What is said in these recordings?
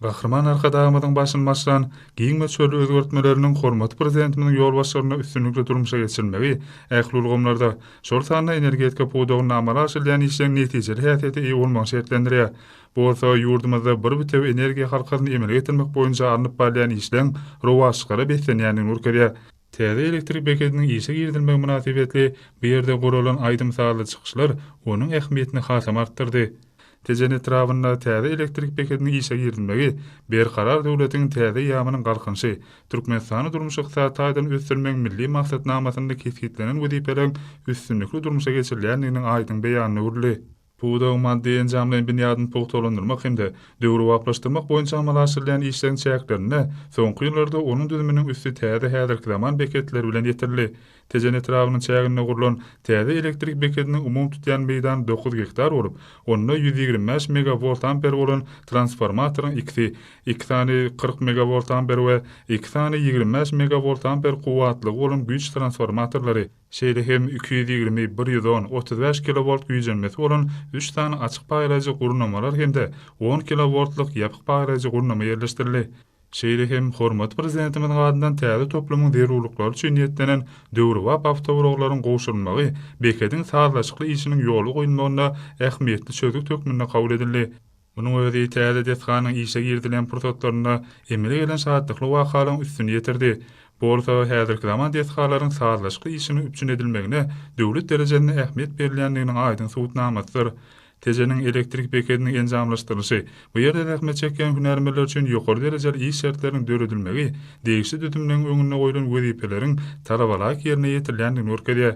Gahryman Arkadagymyzyň başyny başlan giň möçberli özgertmeleriniň hormatly Prezidentimiziň ýolbaşçylygynda üstünlikli durmuşa geçirilmegi ähli ulgamlarda, şol sanda energetika pudagynda amala aşyrylýan işleň netijeli häsiýete eýe bolmagyny şertlendirýär. Bu bolsa ýurdumyzda bir bitewi energiýa halkasyny emele getirmek boýunça alnyp barylýan işleň rowaçlyklara beslenýändigini görkezýär. Täze elektrik bekediniň işe girizilmegi mynasybetli bu ýerde guralan aýdym-sazly çykyşlar onuň ähmiýetini hasam artdyrdy. Tejen etrabynda täze elektrik bekediniň işe girizilmegi Berkarar döwletiň täze eýýamynyň Galkynyşy, Türkmenistany durmuş-ykdysady taýdan ösdürmegiň milli maksatnamasynda kesgitlenen wezipeleriň üstünlikli durmuşa geçirilýändiginiň aýdyň beýanyna öwrüldi. Pudagyň maddy-enjamlaýyn binýadyny pugtalandyrmak hem-de döwrebaplaşdyrmak boýunça amala aşyrylýan işleriň çäklerinde soňky ýyllarda onuň düzüminiň üsti täze häzirki zaman beketleri bilen ýetirildi. Tejen etrabynyň çäginde gurlan täze elektrik bekediniň umumy tutýan meýdany dokuz gektar bolup, onda ýüz ýigrimi bäş megawoltamper bolan transformatoryň ikisi, iki sany kyrk megawoltamper we iki sany ýigrimi bäş megawoltamper kuwwatlygy bolan güýç transformatorlary, şeýle hem iki ýüz ýigrimi, bir ýüz on, otuz bäş kilowolt güýjenmesi bolan üç sany açyk paýlaýjy gurnamalar hem-de on kilowoltlyk ýapyk paýlaýjy gurnama ýerleşdirildi. Şeýle hem hormatly Prezidentimiziň adyndan täze toplumyň zerurlyklary üçin niýetlenen döwrebap awtoulaglaryň gowşurylmagy bekediň sazlaşykly işiniň ýola goýulmagynda ähmiýetli çözgüt hökmünde kabul edildi. Munuň özi täze desganyň işe girizilen pursatlarynda emele gelen şatlykly wakalaryň üstüni ýetirdi. Bolsa, häzirki zaman desgalaryň sazlaşykly işiniň üpjün edilmegine döwlet derejesinde ähmiýet berilýändiginiň aýdyň subutnamasydyr. Tejeniň elektrik bekediniň enjamlaşdyrylyşy, bu ýerde zähmet çekýän hünärmenler üçin ýokary derejeli iş şertleriniň döredilmegi degişli düzümleň öňünde goýlan wezipeleriň talabalaýyk ýerine ýetirilýändigini görkezýär.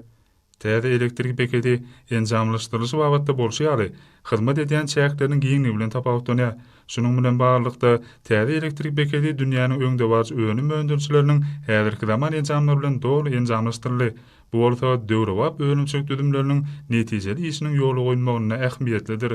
Täze elektrik bekedi enjamlaşdyrylyşy babatda bolşy ýaly, hyzmat edýän çäkleriniň giňligi bilen tapawutlanýar. Şunuň bilen baglylykda, täze elektrik bekedi dünýäniň öňdebaryjy önüm öndürijileriniň häzirki zaman enjamlary bilen doly enjamlaşdyryldy. Bu bolsa döwrebap önümçilik düzümleriniň netijeli işiniň ýola goýulmagynda ähmiýetlidir.